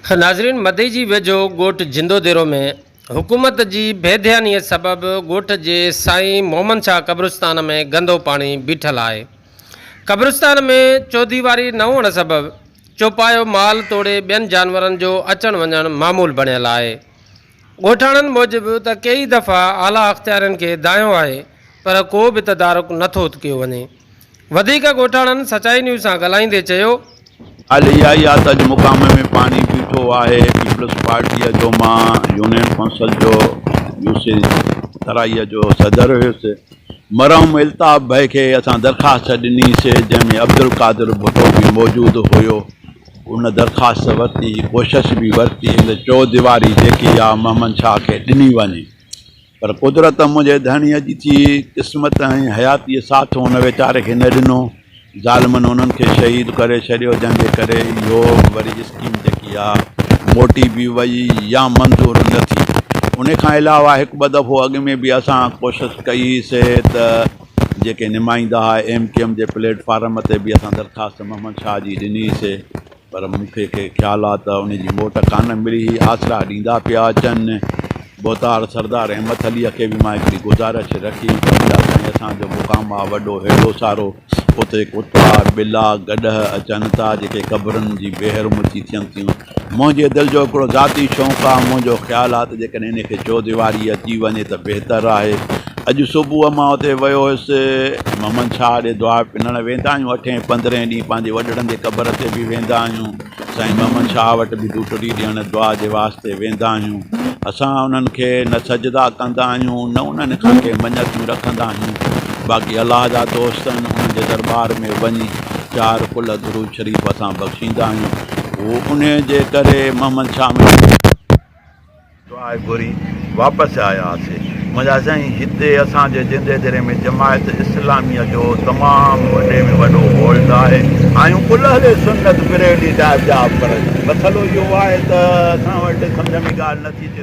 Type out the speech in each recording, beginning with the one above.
خ ناظرين مدئي جي ويجهو ڳوٺ جندو ديرو ۾ حڪومت جي بي ڌياني سبب ڳوٺ جي سائين محمد شاهه قبرستان ۾ گندو پاڻي بيٺل آهي قبرستان ۾ چوديواري نه هئڻ سبب چوپايو مال توڙي ٻين جانورن جو اچڻ وڃڻ معمول بڻيل آهي ڳوٺاڻن موجب ته ڪيئي دفعا اعليٰ اختيارين کي دانهيو آهي پر ڪو به تدارڪ نه ٿو ڪيو وڃي. وڌيڪ ڳوٺاڻن سچائي نيوز سان ڳالهائيندي چيو. ڳالهه اها ئي آهي ته اڄ مقام ۾ پاڻي بيٺو آهي، پيپلز پارٽيء جو مان يونين ڪونسل جو يوسف ترائيء جو صدر هيس. مرحوم الطاف ڀائي کي اسان درخواست ڏني سي جنهن ۾ عبدالقادر ڀٽو به موجود هيو. ان درخواست ورتي جي ڪوشش به ورتي ته چوهديواري جيڪي آ محمد شاهه کي ڏني وڃي پر قدرت منهنجي ڌڻيء جي ٿي قسمت ۽ حياتيء ساٿ ان ويچاري کي نه ڏنو ظالمن انهن کي شهيد ڪري ڇڏيو جنهن جي ڪري اهو وري اسڪيم جيڪي آ موٽي به وئي يا منظور نه ٿي ان کان علاوه هڪ ٻه دفعو اڳ ۾ به اسان ڪوشش ڪئي سي ته جيڪي نمائندا هئا ايم ڪيو ايم جي پليٽ فارم تي به اسان درخواست محمد شاهه جي ڏني سي پر مونکي کي خيال آ ته ان جي موٽ ڪانه ملي هي آسرا ڏيندا پيا اچن بوتار سردار احمد علي کي به مان هڪڙي گذارش رکي سائين اسان جو مقام آ وڏو هيڊو سارو اتي ڪتا ٻلا گڏهه اچن ٿا جيڪي قبرن جي بيحرمتي ٿين ٿيون منهنجي دل جو هڪڙو ذاتي شوق آ، منهنجو خيال آ ته جيڪڏهن هن کي چوديواري اچي وڃي ته بهتر آهي. اڄ صبح مان اتي ويو هيس. محمد شاهه ڏي دعا پنڻ ويندا آهيون، اٺين پندرهين ڏينهن پنهنجي وڏڙن جي قبر تي به ويندا آهيون. سائين محمد شاهه وٽ به ڊوٽڙي ڏيڻ دعا جي واسطي ويندا آهيون. اسان انهن کي نه سجدا ڪندا آهيون نه انهن کان ڪي مڃتون رکندا آهيون. باقي الله جا دوست آهن انهن جي درٻار ۾ وڃي. چار ڪلهه درود شريف اسان بخشيندا آهيون هو انهيء جي ڪري محمد شاهه مشڪل دعا گهري واپس آياسي منهنجا سائين هتي اسان جي جندي ديري ۾ جماعت اسلامي جو تمام وڏي ۾ وڏو هول ته آهي آهيون ڪل اهل سنت بريلي صاحب جا پر مسئلو اهو آهي ته اسان وٽ سمجهه ۾ ڳالهه نٿي اچي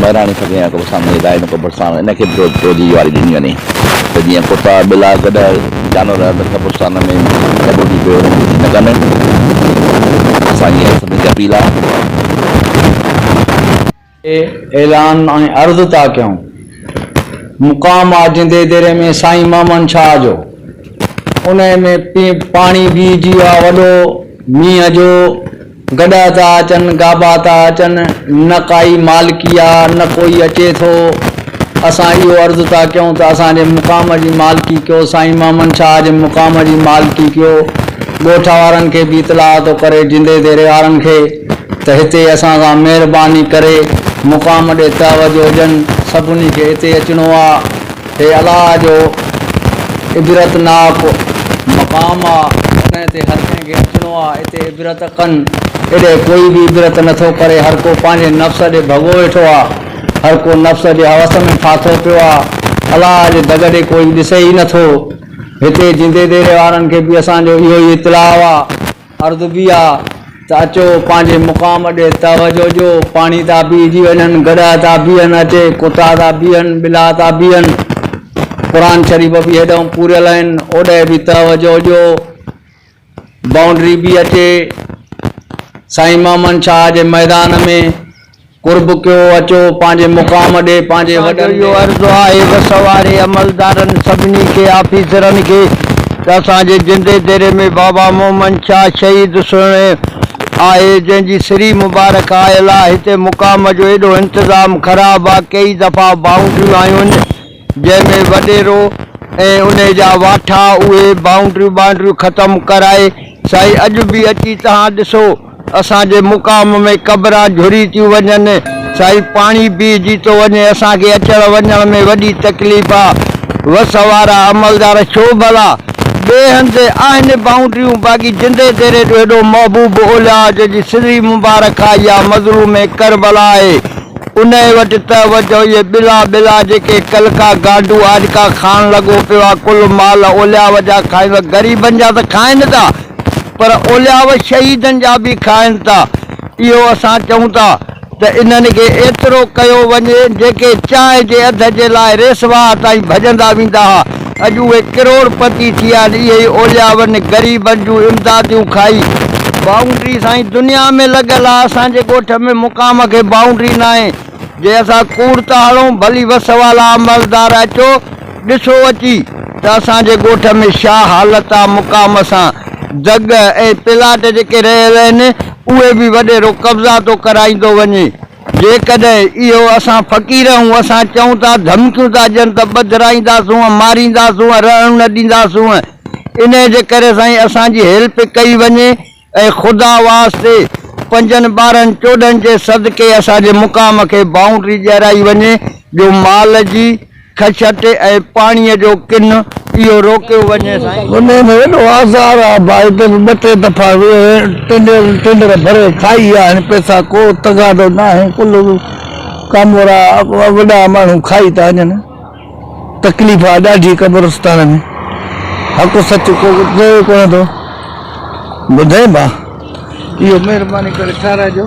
مهراڻي سگهين يا ڪوبه سامهون هدايت ۽ ڪوبه ساڻ ان کي به توجيهي واري ڏني وڃي ته جيئن ڪتا، ٻلا گڏهه جانور اندر قبرستان ۾ ڪڍو ٿي پيو وڃن ڪجهه نه ڪن. اسان جي سڀني کي اپيل آهي. تي اعلان ۽ عرض ٿا ڪيون. مقام آ جندي ديري ۾ سائين محمد شاهه جو. انهيء ۾ پاڻي بيهجي آ وڏو مينهن جو. گڏا ٿا اچن، گابا ٿا اچن، نه ڪائي مالڪي آ، نه ڪوئي اچي ٿو. اسان اهو عرض ٿا ڪيون ته اسان جي مقام جي مالڪي ڪيو، سائين محمد شاهه جي مقام جي مالڪي ڪيو. ڳوٺ وارن کي به اطلاع ٿو ڪري جندي ديري وارن کي ته هتي اسان سان مهرباني ڪري مقام ڏي توجه ڏين، سڀني کي هتي اچڻو آ. هي الله جو عبرتناڪ مقام آ، انهيء تي هر ڪنهن کي اچڻو آ، اتي عبرت ڪن، ايڏهن ڪوئي به عبرت نه ٿو ڪري، هر ڪو پنهنجي نفس ڏي ڀڳو ويٺو آ، هر ڪو نفس جي هوس ۾ ڦاٿو پيو آ، الله جي دڳ ڏي ڪوئي ڏسي ئي نه ٿو، هتي جيندي ديري وارن کي به اسان جو اهو ئي اطلاع آ. عرض به آ ته اچو پنهنجي مقام ڏي توجه ڏيو، پاڻي ٿا پيئجي وڃن، گڏهه ٿا بيهن، اچي ڪتا ٿا بيهن، ٻلا ٿا بيهن، قرآن شريف به هيڏانهن پوريل آهن، اوڏهه به توجه ڏيو، بائونڊري به اچي سائين محمد شاهه جي ميدان ۾. قرب ڪيو اچو پنهنجي مقام ڏي پنهنجي وڏن ڏي. اسان جو اهو عرض آهي بس واري عملدارن سڀني کي آفيسرن کي ته اسان جي جندي ديري ۾ بابا مومن شاهه شهيد سهڻي آهي جنهن جي سري مبارڪ آيل آ هتي مقام جو ايڏو انتظام خراب آ ڪيئي دفعا باونڊريون آيون جنهن ۾ وڏيرو ۽ انهي جا واٺا اهي بائونڊريون ٻانڊريون ختم ڪرائي سائين اڄ به اچي تهان ڏسو اسان جي مقام ۾ قبران جھري ٿيون وڃن سائين پاڻي بيھجي ٿو وڃي اسان کي اچڻ وڃڻ ۾ وڏي تڪليف آ وس وارا عملدار ڇو ڀلا ٻئي هنڌ آهن بائونڊريون باقي جندي ديري جو هيڏو محبوب اولياء جنهن جي سري مبارڪ آئي آ مظلوم ڪربلا آهي انهيء وٽ ته وجهوئيء بلا بلا جيڪي ڪلڪا گانڊو آڏڪا کائڻ لڳو پيو آ، ڪل مال اولياء جا کائين ٿا. غريبن جا ته کائين ٿا، پر اولياء شهيدن جا به کائين ٿا. اهو اسان چئون ٿا ته انهن کي ايترو ڪيو وڃي، جيڪي چانهه جي اڌ جي لاء ريسواهه تائين ڀڄندا ويندا ها. اڄ اهي ڪروڙ پتي ٿيا آهن اهي ئي اولياون غريبن جون امداديون کائي بائونڊري سائين دنيا ۾ لڳل آ اسان جي ڳوٺ ۾ مقام کي بائونڊري ناهي جي اسان ڪوڙ ٿا هڻون ڀلي وس والا عملدار اچو ڏسو اچي ته اسان جي ڳوٺ ۾ شا حالت آ مقام سان دڳ ۽ پلاٽ جيڪي رهيل اهن اهي به وڏيرو قبضا ٿو ڪرائيندو وڃي جيڪڏهن اهو اسان فقير هون اسان چئون ٿا ڌمڪيون ٿا ڏين ته ٻڌرائينداسون ۽ مارينداسون ۽ رهڻ نه ڏينداسون انهي جي ڪري سائين اسان جي هيلپ ڪئي وڃي ۽ خدا واسطي پنجن ٻارهن چوڏهن جي صدقي اسان جي مقام کي بائونڊري ڏيارائي وڃي جو مال جي خشٽ ۽ پاڻيء جو ڪن اهو روڪيو وڃي سائين. هنئين ۾ ايڏو آزار آ ڀائي تنهنجي ٻه ٽي دفعا ٽينڊر ڀري کائي ويا آهن پئسا ڪو تغاضو ناهي ڪل ڪامورا وڏا ماڻهو کائي ٿا وڃن تڪليف آ ڏاڍي قبرستان ۾ حق سچ ڪو چئي ڪونه ٿو ٻڌين ڀا اهو مهرباني ڪري ٺهرائجو.